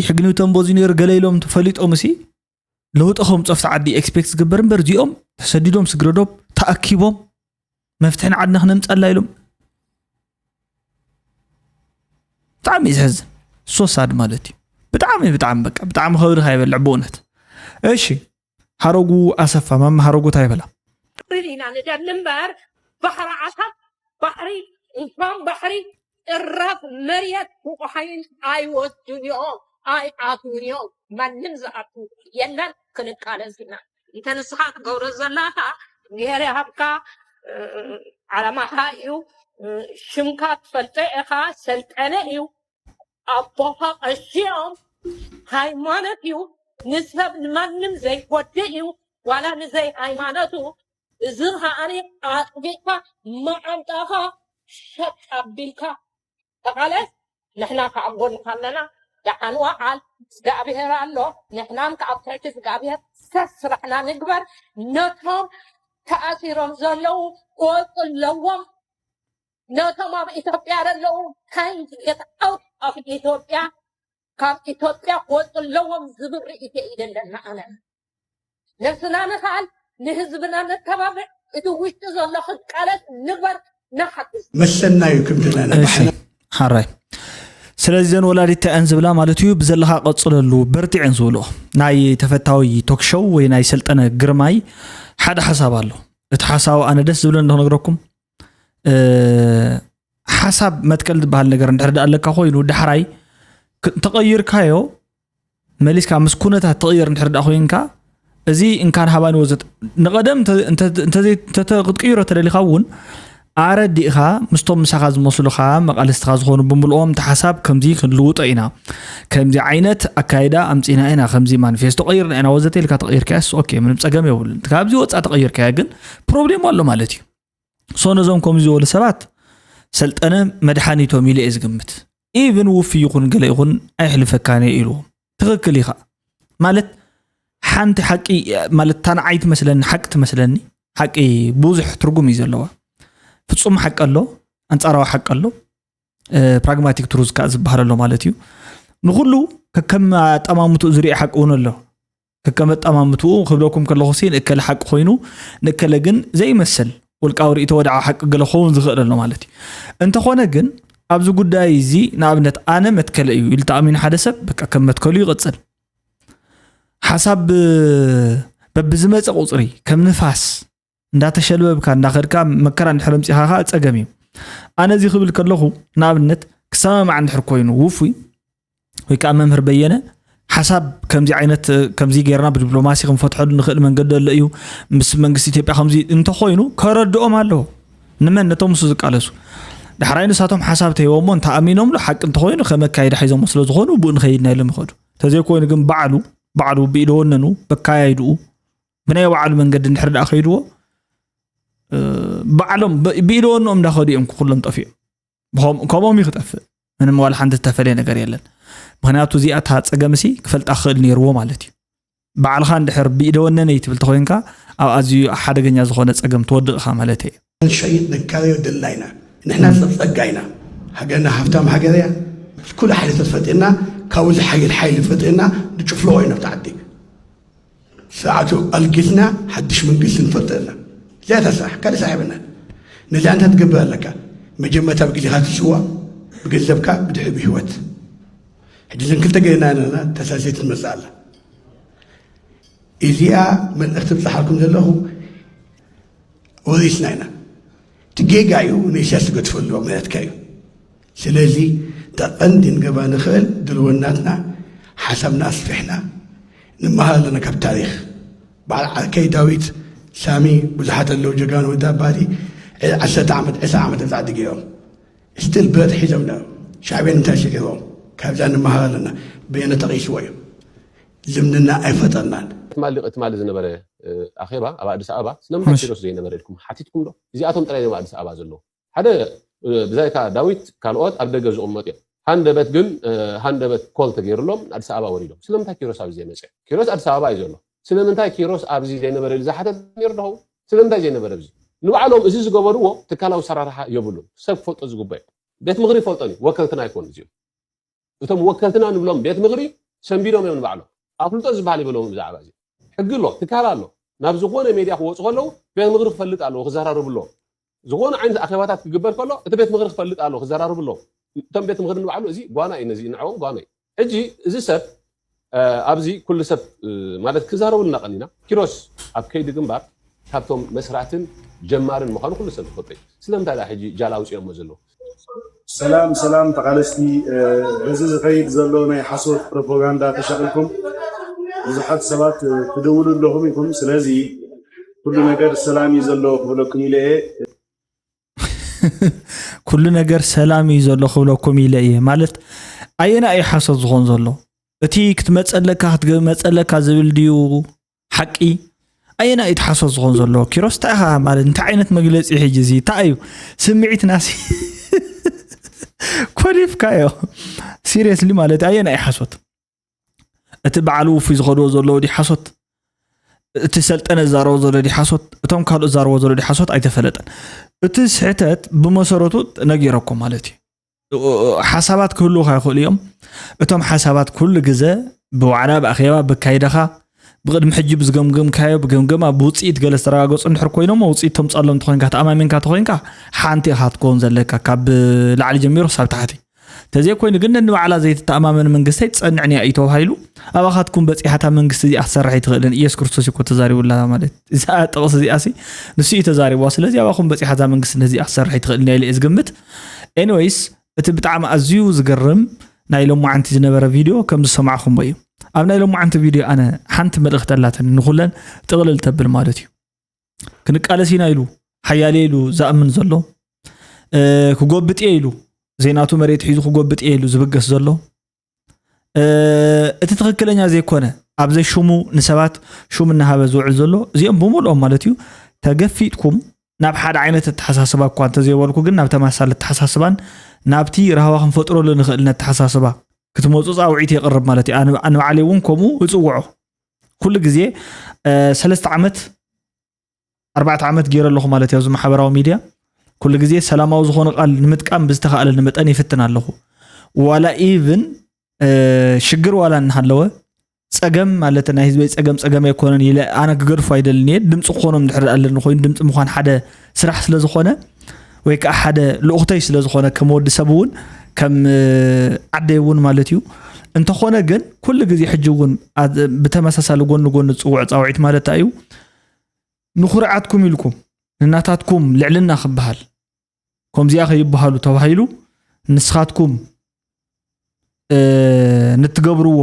ሕግኒ ተንቦ እዚ ነሩ ገለ ኢሎም ፈሊጦም እሲ ለውጢ ከም ፀፍቲ ዓዲ ኤክስፔክት ዝግበር እምበር እዚኦም ተሰዲዶም ስግረዶብ ተኣኪቦም መፍትሒ ንዓድና ክነምፀላ ኢሎም ብጣዕሚ እዩ ዝሕዝን ሶሳድ ማለት እዩ ብጣዕሚ ብጣዕሚ በቃ ብጣዕሚ ከብድካ ይበልዕ ብእውነት እሺ ሓረጉ ኣሰፋ ማማ ሓረጉ ታይ በላ? ክብል ኢና ንደሊ እምበር ባሕሪ ዓሳብ ባሕሪ እንኳን ባሕሪ ጥራፍ መርየት ቡቁሓይን ኣይወስዱን እዮም ኣይኣትዉን እዮም ማንም ዝኣቱ የለን ክንቃለስ ኢና እንተ ንስኻ ትገብሮ ዘላኻ እግዝሄር ይሃብካ ዓላማኻ እዩ ሽምካ ትፈልጦ ኢኻ ሰልጠነ እዩ ኣቦኻ ቀሺኦም ሃይማኖት እዩ ንሰብ ንማንም ዘይጎድእ እዩ ዋላ ንዘይ ሃይማኖቱ እዚ ከዓኒ ኣጥቢቕካ መዓንጣኻ ሸጥ ኣቢልካ ተቓለስ ንሕና ከዓ ኣብ ጎንኻ ኣለና ደሓን ወዓል እግዚኣብሔር ኣሎ ንሕናም ከዓ ኣብ ትሕቲ እግዚኣብሔር ሰብ ስራሕና ንግበር ነቶም ተኣሲሮም ዘለዉ ክወፁ ኣለዎም ነቶም ኣብ ኢትዮጵያ ዘለዉ ካይንድ ጌት ኣውት ኦፍ ኢትዮጵያ ካብ ኢትዮጵያ ክወፁ ኣለዎም ዝብል ርእይቶ እዩ ዘለና ኣነ ነስና ንኽኣል ንህዝብና ነተባብዕ እቲ ውሽጢ ዘሎ ክቃለስ ንበር ንሓግዝ መሰና እዩ ክንድና እሺ ንባሕና ሓራይ ስለዚ ዘን ወላዲት እንታይ እየን ዝብላ ማለት እዩ ብዘለካ ቀፅለሉ በርትዕ እየን ዝብልኦ ናይ ተፈታዊ ቶክ ሾው ወይ ናይ ሰልጠነ ግርማይ ሓደ ሓሳብ ኣሎ እቲ ሓሳብ ኣነ ደስ ዝብለ እንዶ ክነግረኩም ሓሳብ መትከል ዝበሃል ነገር እንድሕር ዳኣ ኣለካ ኮይኑ ዳሕራይ ተቐይርካዮ መሊስካ ምስ ኩነታት ተቕይር እንድሕር ዳኣ ኮይንካ እዚ እንካን ሃባን ወዘት ንቐደም ክትቅይሮ ተደሊኻ እውን ኣረዲእኻ ምስቶም ምሳኻ ዝመስሉኻ መቃልስትኻ ዝኾኑ ብምልኦም እቲ ሓሳብ ከምዚ ክንልውጦ ኢና ከምዚ ዓይነት ኣካይዳ ኣምፂና ኢና ከምዚ ማኒፌስቶ ቀይርና ኢና ወዘተ ኢልካ ተቐይርካያስ ኦኬ ምንም ፀገም የብሉን ካብዚ ወፃእ ተቐይርካያ ግን ፕሮብሌም ኣሎ ማለት እዩ ሶ ነዞም ከምዚ ዝበሉ ሰባት ሰልጠነ መድሓኒቶም ኢለ እየ ዝግምት ኢብን ውፍ ይኹን ገለ ይኹን ኣይሕልፈካን እየ ኢልዎም ትኽክል ኢኻ ማለት ሓንቲ ሓቂ ማለት እታ ንዓይ ትመስለኒ ሓቂ ትመስለኒ ሓቂ ብዙሕ ትርጉም እዩ ዘለዋ ፍፁም ሓቂ ኣሎ ኣንፃራዊ ሓቂ ኣሎ ፕራግማቲክ ትሩዝ ከዓ ዝበሃል ኣሎ ማለት እዩ ንኩሉ ከከም ኣጠማምትኡ ዝርኢ ሓቂ እውን ኣሎ ከከመጠማምትኡ ክብለኩም ከለኹ ሲ ንእከለ ሓቂ ኮይኑ ንእከለ ግን ዘይመስል ውልቃዊ ርእቶ ወድዓ ሓቂ ገለ ክኸውን ዝኽእል ኣሎ ማለት እዩ እንተኾነ ግን ኣብዚ ጉዳይ እዚ ንኣብነት ኣነ መትከለ እዩ ኢሉ ተኣሚኑ ሓደ ሰብ በቃ ከም መትከሉ ይቕፅል ሓሳብ በብዝመፀ ቁፅሪ ከም ንፋስ እንዳተሸልበብካ እንዳኸድካ መከራ እንድሕር ኣምፂኻ ከዓ ፀገም እዩ ኣነ እዚ ክብል ከለኹ ንኣብነት ክሰማማዕ እንድሕር ኮይኑ ውፉይ ወይ ከዓ መምህር በየነ ሓሳብ ከምዚ ዓይነት ከምዚ ጌርና ብዲፕሎማሲ ክንፈትሐሉ ንኽእል መንገዲ ኣሎ እዩ ምስ መንግስቲ ኢትዮጵያ ከምዚ እንተኮይኑ ከረድኦም ኣለዎ ንመን ነቶም ምስ ዝቃለሱ ዳሕራይ ንሳቶም ሓሳብ ተሂቦሞ እንተኣሚኖምሉ ሓቂ እንተኮይኑ ከመካየዳ ሒዞሞ ስለ ዝኾኑ ብኡ ንኸይድና ኢሎም ይኸዱ ተዘይኮይኑ ግን ባዕሉ ባዕሉ ብኢደወነኑ በካያይድኡ ብናይ ባዕሉ መንገዲ እንድሕር ደኣ ከይድዎ ባዕሎም ብኢደወንኦም እንዳኸዱ እዮም ኩሎም ጠፊኦም ከምኦም እዩ ክጠፍእ ምንም ዋላ ሓንቲ ዝተፈለየ ነገር የለን ምክንያቱ እዚኣ እታ ፀገምሲ ክፈልጣ ክኽእል ነይርዎ ማለት እዩ ባዕልኻ እንድሕር ብኢደወነነይ ትብል ተኮይንካ ኣብ ኣዝዩ ሓደገኛ ዝኾነ ፀገም ትወድቕኻ ማለት እየ ክንሸይጥ ንካዮ ድልና ኢና ንሕና ፀፀጋ ኢና ሃገርና ሃፍታም ሃገር እያ ኩሉ ሓይሊ ተፈጢና ካብኡ ዝሓይል ሓይሊ ፈጢና ንጭፍልቆ ኢና ተዓዲ ስርዓቱ ኣልጊትና ሓድሽ መንግስቲ ንፈጥር ኣለና እዚኣ እታ ስራሕ ካልእ ስራሕ የብልናን ነዚ ኣንታ ትገብር ኣለካ መጀመርታ ብግዜኻ ትስዋ ብገንዘብካ ብድሕሪ ብህይወት ሕጂ ዘን ክልተ ገይርና ኣለና ተሳሴት ትመፅእ ኣላ እዚኣ መልእኽቲ ብፅሓልኩም ዘለኹ ወሪስና ኢና እቲ ጌጋ እዩ ንእስያስ ዝገድፎ ኣሎ ማለትካ እዩ ስለዚ ጠቐንዲ ንገባ ንኽእል ድልወናትና ሓሳብና ኣስፊሕና ንመሃር ኣለና ካብ ታሪክ በዓል ዓርከይ ዳዊት ሳሚ ብዙሓት ኣለዉ ጀጋኑ ወዲ ኣባዲ ዕድ ዓሰርተ ዓመት ዕስራ ዓመት ፃዕዲ ገይሮም ስትል ብረት ሒዞም ሻዕብያን እንታይ ስዒሮም ካብዛ ንመሃር ኣለና በየነ ተቒስዎ እዩ ልምድና ኣይፈጠርናን። ትማሊ ሊቅ ትማሊ ዝነበረ ኣኼባ ኣብ ኣዲስ ኣበባ ስለምንታይ ማሽ። ኪሮስ ዘይነበረ ኢልኩም ሓቲትኩም ዶ? እዚኣቶም ጥራይ ድዮም ኣብ ኣዲስ ኣበባ ዘለዉ? ሓደ ብዛይካ ዳዊት ካልኦት ኣብ ደገ ዝቕመጡ እዮም። ሃንደበት ግን ሃንደበት ኮል ተገይርሎም ኣዲስ ኣበባ ወሪዶም። ስለምንታይ ኪሮስ ኣብዚ ዘይመጸ? ኪሮስ ኣዲስ ኣበባ እዩ ዘሎ። ስለምንታይ ኪሮስ ኣብዚ ዘይነበረ ኢሉ ዝሓተተ ነይሩ ዶ ይኸውን? ስለምንታይ ዘይነበረ ኣብዚ? ንባዕሎም እዚ ዝገበርዎ ትካላዊ ኣሰራርሓ የብሉን። ሰብ ክፈልጦ ዝግበኦ እዩ። ቤት ምኽሪ ይፈልጦን እዩ። ወከልትና ኣይኮኑን እዚኦም። እቶም ወከልትና ንብሎም ቤት ምኽሪ ሰንቢዶም እዮም ንባዕሎም። ኣፍልጦ ዝበሃል የብሎምን ብዛዕባ እዚ። ሕጊ ኣሎ፣ ትካል ኣሎ። ናብ ዝኾነ ሜድያ ክወፁ ከለዉ ቤት ምኽሪ ክፈልጥ ኣለዎ ክዘራረቡ ኣለዎም። ዝኾነ ዓይነት ኣኼባታት ክግበር ከሎ እቲ ቤት ምኽሪ ክፈልጥ ኣለዎ ክዘራረቡ ኣለዎም። እቶም ቤት ምኽሪ ንባዕሉ እዚ ጓና እዩ ነዚ ንዐኦም ጓና እዩ። ሕጂ እዚ ሰብ ኣብዚ ኩሉ ሰብ ማለት ክዛረበልና ቀኒና። ኪሮስ ኣብ ከይዲ ግንባር ካብቶም መስራትን ጀማርን ምዃኑ ኩሉ ሰብ ዝፈልጦ እዩ። ስለምንታይ ድኣ ሕጂ ጃል ኣውፂኦሞ ዘለዉ? ሰላም ሰላም ተቓለስቲ በዚ ዝኸይድ ዘሎ ናይ ሓሶት ፕሮፖጋንዳ ተሻቒልኩም ብዙሓት ሰባት ትድውሉ ኣለኹም ኢኹም ስለዚ ኩሉ ነገር ሰላም እዩ ዘሎ ክብለኩም ኢለ እየ። ኩሉ ነገር ሰላም እዩ ዘሎ ክብለኩም ኢለ እየ ማለት ኣየና እዩ ሓሶት ዝኾን ዘሎ እቲ ክትመፀለካ ክትመፀለካ ዝብል ድዩ ሓቂ ኣየና እዩ ሓሶት ዝኾን ዘሎ ኪሮስ እንታይ ኢኻ ማለት እንታይ ዓይነት መግለፂ ሕጂ እዚ እንታይ እዩ ስምዒትናሲ ኮሊፍካዮ ሲሪየስሊ ማለት ኣየና እዩ ሓሶት እቲ በዓል ውፉይ ዝኸድዎ ዘለዎ ድዩ ሓሶት እቲ ሰልጠነ ዝዛረቦ ዘሎ ድዩ ሓሶት እቶም ካልኦት ዝዛረቦ ዘሎ ድዩ ሓሶት ኣይተፈለጠን እቲ ስሕተት ብመሰረቱ ነጊረኩም ማለት እዩ ሓሳባት ክህልውካ ይኽእሉ እዮም እቶም ሓሳባት ኩሉ ግዘ ብዋዕላ ብኣኼባ ብካይዳኻ ብቅድሚ ሕጂ ብዝገምገምካዮ ብገምገማ ብውፅኢት ገለ ዝተረጋገፁ እንድሕር ኮይኖሞ ውፅኢት ተምፅኣሎም እንተኮይንካ ተኣማሚንካ ተኮይንካ ሓንቲ ኢኻ ትከውን ዘለካ ካብ ላዕሊ ጀሚሩ ክሳብ ታሕቲ ተዘይኮይኑ ግን ነንባዕላ ዘይትተኣማመን መንግስተይ ትጸንዕን እያ እዩ ተባሂሉ ኣባኻትኩም በፂሓታ መንግስቲ እዚኣ ክሰርሕ ኣይትኽእልን ኢየሱስ ክርስቶስ እኮ ተዛሪቡላ ማለት እዛ ጥቕሲ እዚኣ ሲ ንሱ እዩ ተዛሪብዋ ስለዚ ኣባኹም በፂሓታ መንግስቲ ነዚኣ ክሰርሕ ኣይትኽእልን እያ ኢለ እየ ዝግምት ኤኒዌይስ እቲ ብጣዕሚ ኣዝዩ ዝገርም ናይ ሎማዓንቲ ዝነበረ ቪድዮ ከም ዝሰማዕኹሞ እዩ ኣብ ናይ ሎማዓንቲ ቪድዮ ኣነ ሓንቲ መልእኽቲ ኣላትን ንኹለን ጥቕልል ተብል ማለት እዩ ክንቃለስ ኢና ኢሉ ሓያሌ ኢሉ ዝኣምን ዘሎ ክጎብጥ እየ ኢሉ ዜናቱ መሬት ሒዙ ክጎብጥ እየ ኢሉ ዝብገስ ዘሎ እቲ ትክክለኛ ዘይኮነ ኣብ ዘሽሙ ንሰባት ሹም እናሃበ ዝውዕል ዘሎ እዚኦም ብምልኦም ማለት እዩ ተገፊጥኩም ናብ ሓደ ዓይነት ኣተሓሳስባ እኳ እንተዘይበልኩ ግን ናብ ተመሳሳሊ ኣተሓሳስባን ናብቲ ራህዋ ክንፈጥረሉ ንኽእል ነተሓሳስባ ክትመፁ ፃውዒት የቕርብ ማለት እዩ ኣነ ባዕለይ እውን ከምኡ እፅውዖ ኩሉ ግዜ ሰለስተ ዓመት ኣርባዕተ ዓመት ገይረ ኣለኹ ማለት እዩ ኣብዚ ማሕበራዊ ሚድያ ኩሉ ግዜ ሰላማዊ ዝኾነ ቃል ንምጥቃም ብዝተኻእለኒ መጠን ይፍትን ኣለኹ ዋላ ኢቭን ሽግር ዋላ እናሃለወ ፀገም ማለት ናይ ህዝበይ ፀገም ፀገም ኣይኮነን ኢለ ኣነ ክገድፎ ኣይደልን እየ ድምፂ ክኾኖም ድሕር ኣለኒ ኮይኑ ድምፂ ምኳን ሓደ ስራሕ ስለ ዝኾነ ወይ ከዓ ሓደ ልኡኽተይ ስለ ዝኾነ ከም ወዲ ሰብ እውን ከም ዓደይ እውን ማለት እዩ እንተኾነ ግን ኩሉ ግዜ ሕጂ እውን ብተመሳሳሊ ጎኒ ጎኒ ዝፅውዕ ፃውዒት ማለት እንታይ እዩ ንኩርዓትኩም ኢልኩም ንናታትኩም ልዕልና ክበሃል ከምዚኣ ከይበሃሉ ተባሂሉ ንስኻትኩም ንትገብርዎ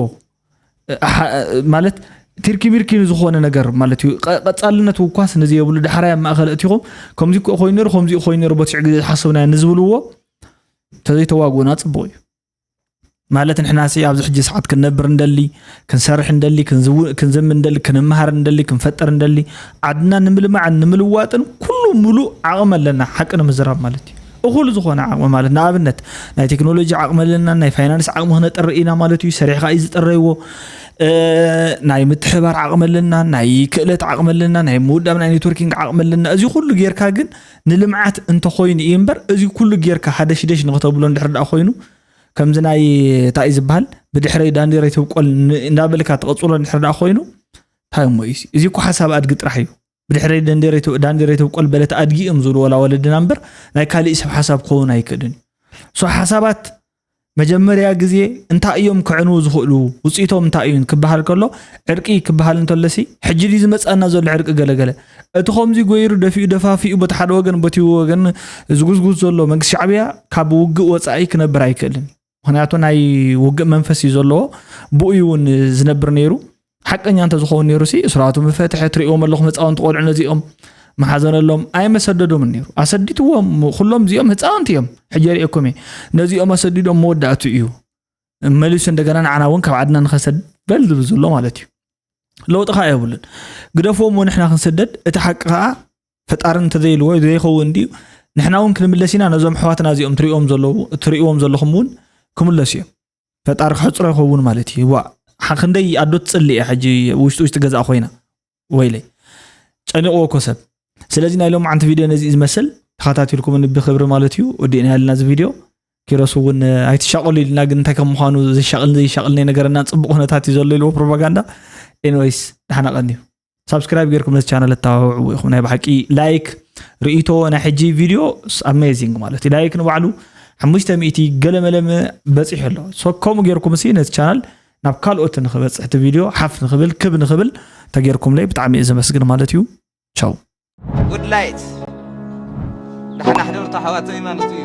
ማለት ቲርኪ ሚርኪ ዝኾነ ነገር ማለት እዩ ቀፃልነት ውኳስ ነዚ የብሉ ዳሕራይ ኣብ ማእኸል እቲኹም ከምዚ ክኦ ኮይኑ ነሩ ከምዚ ኮይኑ ነሩ በትዕ ግዜ ዝሓሰብናዮ ንዝብልዎ ተዘይተዋግኡና ፅቡቅ እዩ ማለት ንሕና ሲ ኣብዚ ሕጂ ሰዓት ክንነብር እንደሊ ክንሰርሕ እንደሊ ክንዝም እንደሊ ክንምሃር እንደሊ ክንፈጥር እንደሊ ዓድና ንምልማዕን ንምልዋጥን ኩሉ ሙሉእ ዓቕሚ ኣለና ሓቂ ንምዝራብ ማለት እዩ እኹል ዝኾነ ዓቕሚ ማለት ንኣብነት ናይ ቴክኖሎጂ ዓቕሚ ኣለና ናይ ፋይናንስ ዓቕሚ ክነጥሪ ኢና ማለት እዩ ሰሪሕካ እዩ ዝጥረይዎ ናይ ምትሕባር ዓቕሚ ኣለና ናይ ክእለት ዓቕሚ ኣለና ናይ ምውዳብ ናይ ኔትወርኪንግ ዓቕሚ ኣለና እዚ ኩሉ ጌርካ ግን ንልምዓት እንተኮይኑ እዩ እምበር እዚ ኩሉ ጌርካ ሃደሽደሽ ንክተብሎ እንድሕር ደኣ ኮይኑ ከምዚ ናይ እንታይ እዩ ዝበሃል ብድሕረይ ዳንዴረይ ትብቆል እንዳበልካ ትቐፅሎ እንድሕር ደኣ ኮይኑ እንታይ እሞ እዩ እዚ እኮ ሓሳብ ኣድጊ ጥራሕ እዩ ብድሕረይ ዳንዴረይ ተብቆል በለት ኣድጊ እዮም ዝብሉ ወላ ወለድና እምበር ናይ ካሊእ ሰብ ሓሳብ ክኸውን ኣይክእልን እዩ ሓሳባት መጀመርያ ግዜ እንታይ እዮም ክዕንዉ ዝኽእሉ ውፅኢቶም እንታይ እዩ ክበሃል ከሎ ዕርቂ ክበሃል እንተለሲ ሕጂ ድዩ ዝመፅኣና ዘሎ ዕርቂ ገለገለ እቲ ከምዚ ጎይሩ ደፊኡ ደፋፊኡ በቲ ሓደ ወገን በቲ ወገን ዝጉዝጉዝ ዘሎ መንግስቲ ሻዕብያ ካብ ውግእ ወፃኢ ክነብር ኣይክእልን ምክንያቱ ናይ ውግእ መንፈስ እዩ ዘለዎ ብኡ እውን ዝነብር ነይሩ ሓቀኛ እንተዝኸውን ነይሩ ሲ እስራቱ ምፈትሐ ትሪእዎም ኣለኹም ህፃውንቲ ቆልዑ ነዚኦም መሓዘነሎም ኣይመሰደዶምን ነይሩ ኣሰዲትዎም ኩሎም እዚኦም ህፃውንቲ እዮም ሕጂ ሪእኩም እየ ነዚኦም ኣሰዲዶም መወዳእቱ እዩ መሊሱ እንደገና ንዓና እውን ካብ ዓድና ንኸሰድ በል ዝብል ዘሎ ማለት እዩ ለውጢ ከዓ የብሉን ግደፍዎም ንሕና ክንስደድ እቲ ሓቂ ከዓ ፈጣሪ እንተዘይልዎ ዘይኸውን ድዩ ንሕና እውን ክንምለስ ኢና ነዞም ኣሕዋትና እዚኦም ትሪእዎም ዘለዉ እትሪእዎም ዘለኹም እውን ክምለሱ እዮም ፈጣሪ ክሕፅሮ ይኸውን ማለት እዩ ዋ ክንደይ ኣዶ ትፅሊ እያ ሕጂ ውሽጢ ውሽጢ ገዛ ኮይና ወይለይ ጨኒቕዎ እኮ ሰብ ስለዚ ናይ ሎም ዓንቲ ቪድዮ ነዚ ዝመስል ተኸታቲልኩም ብክብሪ ማለት እዩ ወዲእና ያለና እዚ ቪድዮ ኪሮስ እውን ኣይትሻቀሉ ኢልና ግን እንታይ ከም ምኳኑ ዘሻቅልን ዘይሻቅልን ነገረና ፅቡቅ ኩነታት እዩ ዘሎ ኢልዎ ፕሮፓጋንዳ ኤንወይስ ዳሓና ቀንዩ ሳብስክራይብ ጌርኩም ነዚ ቻነል እተባብዕዎ ኢኹም ናይ ብሓቂ ላይክ ርእቶ ናይ ሕጂ ቪድዮ ኣሜዚንግ ማለት እዩ ላይክ ንባዕሉ ሓሙሽተ ሚእቲ ገለመለመ በፂሑ ኣሎ ሶ ከምኡ ጌርኩም ሲ ነዚ ቻናል ናብ ካልኦት ንክበፅሕ እቲ ቪድዮ ሓፍ ንክብል ክብ ንክብል ተጌርኩምለይ ብጣዕሚ እዩ ዘመስግን ማለት እዩ ቻው ጉድ ላይት ዳሕና ሕደርቶ ኣሕዋተይ ማለት እዩ